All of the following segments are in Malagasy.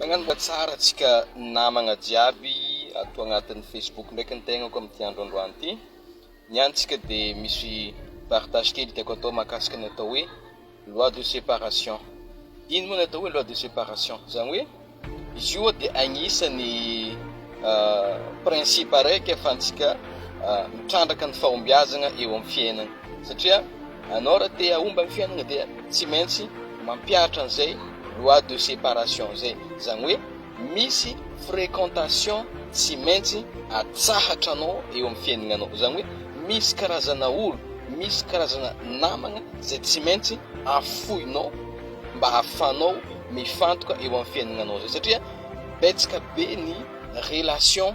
Mañano mba tsara antsika namagna jiaby ato agnatin'ny Facebook ndraiky ny tegnako amin'ity andro androany ity. Ny antsika dia misy partage kely tiako atao mahakasika ny atao hoe loi de séparation. Ino moa ny atao hoe loi de séparation? Zany hoe izy io dia agnisan'ny ah, principe araiky ahafahantsika ah, mitrandraka ny fahombiazagna eo amin'ny fiainagna satria Anao raha te hahomba ny fiainana dia tsy maintsy mampiaritra an'izay loi de séparation izay. Izany hoe misy fréquentation tsy maintsy atsahatra anao eo amin'ny fiainananao. Izany hoe misy karazana olo, misy karazana namana izay tsy maintsy afoinao mba hahafahanao mifantoka eo amin'ny fiainananao izay satria betsaka be ny relation.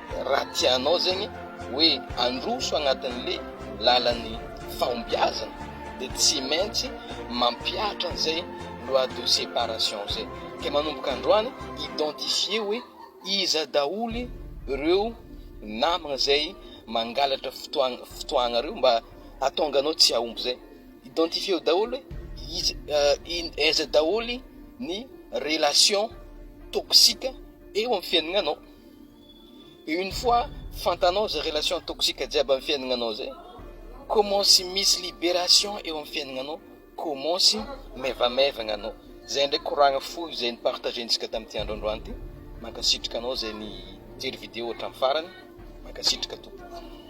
Raha tianao zegny hoe handroso agnatin'le lalan'ny fahombiazana de tsy maintsy mampihatra an'izay loi de séparation zay. Ke manomboka androany identifier hoe iza daholy reo namagna zay mangalatra fotoagna fotoagnareo mba hahatonga anao tsy hahomby zay. Identifier daholy hoe iza in- aiza daholy ny relation toxique eo amin'ny fiainagnanao. Et une fois fantanao zay relation toxique jiaby am fiainagnanao zay, kômansy misy liberation eo am fiainagnanao, kômansy maivamaivagna anao, zay ndray koragna fohy zay ni partager ntsika tamty andro androany ty, mankasitraka anao zay nijery vidéo hatram farany, mankasitraka tompoko.